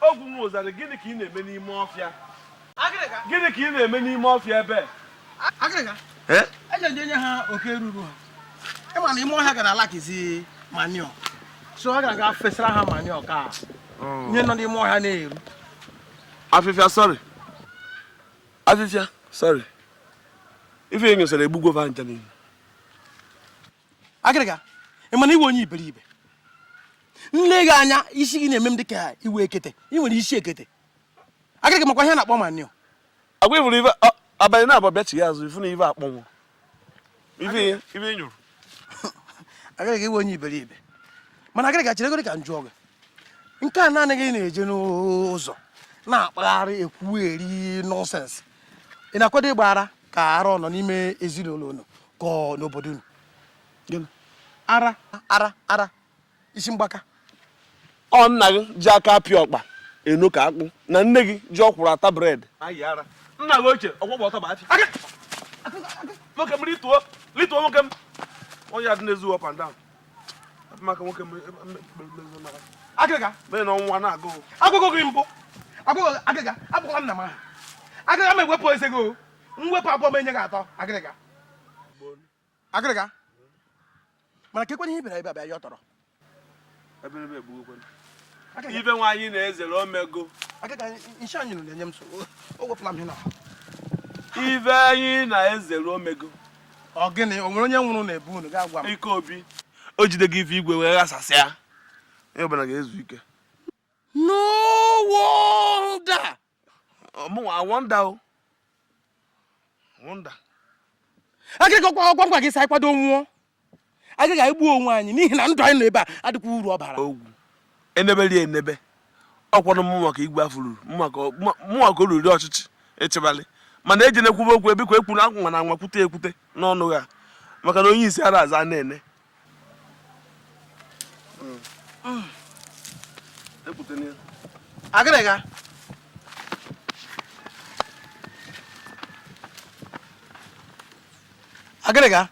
Ogwu nwa ụzarị, gịnị ka ị na-eme n'ime ọfịa? Gịnị ka ị na-eme n'ime ọfịa ebe? Agịrịga, Eh? eje ndị enye ha oke ruru ha. Ị ma na ime ọhịa ga na-alakizi manure. So agara m ga fesara ha manure ka ihe nọ n'ime ọhịa na-eru. Afịfịa, sorry. Afịfịa, sorry. Ife ị nyụsara egbugwo va ncha niile. agịrịga ị ma na ị wụ onye iberibe m lee gị anya isi gị na-eme m dị ka ị wụ ekete ị nwere isi ekete agịrịga makwa ihe a na-akpọ manure ngwa ị fụrụ ife abalị naabọ bịachie azụ ị fụ na ife akpọnwụ ife ị nyụrụ agịrịga ị wụ onye iberibe mana agịrịga cheregodi ka m jụọ gị nke a naanị gị na-eje n'ụzọ na-akpagharị ekwugheri nonsense ị na-akwado ịgba ara ka ara ọ nọ n'ime ezinụlọ unu ka ọ n'obodo unu Gịnị? ara ara ara isi mgbaka ọ nna gị ji aka apịa ọkpa eno ka akpụ na nne gị ji ọkwụrụ ata bread nna gị ochie ọgwụgwọ ọtọ bụ achị Aka! nwoke m rituo rituo nwoke m onye adị na-ezu up and down maka nwoke agịrịga mee na ọnwa na-agụ agụgụ gị mbụ agụgụ agịrịga akpọkwala nna m aha agịrịga m ewepụ eze gị m wepụ abụọ m enye gị atọ agịrịga agịrịga mana ka ekwenye ihe bịara ebe abịa ya ọ tọrọ ife anyị na-ezere o mego ife anyị na-ezere o mego ọ gịnị o nwere onye nwụrụ na be unu ga-agwa m ike obi o jide gị ife igwe wee ghasasịa onye ọbụla ga-ezu ike no wonder ọmụnwa wonder o wonder agịrịga ọkwa m gwa gị sa ịkwado nwụọ agịrịga egbu onwe anyị n'ihi na ndụ anyị nọ ebe a adịkwa uru ọ bara ogwu enebe rie enebe ọkwanụ mụnwa ka igwe a fụrụ mụnwa ka o riri ọchịchị echebalị mana eji na-ekwube okwu ebikwa ekwuru akwa na nwa kwute ekwute n'ọnụ ha maka na onye isi ara aza na-ene agịrịga agịrịga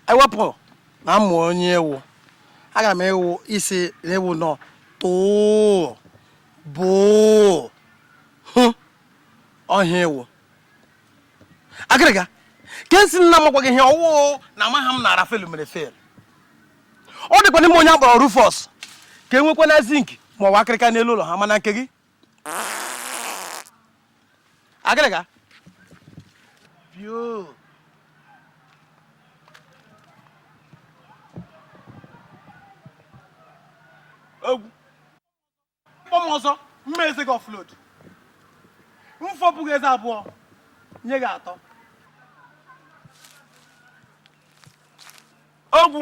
e wepụ na mụ onye ị wụ agaara m ịsị ị wụ nọ tụụ bụụ hụ ọhịa ewu agịrịga ka esi nna m gwa gị ihe ọ wụ na amaghị m na Raphael mere fail ọ dịkwa n'ime onye a kpọrọ Rufus ka enwekwana zinc ma ọ bụ akịrịka n'elu ụlọ ha mana nke gị agịrịga pio egwu kpọ m ọzọ mma eze gị offload m fọpụ gị eze abụọ nye gị atọ ogwu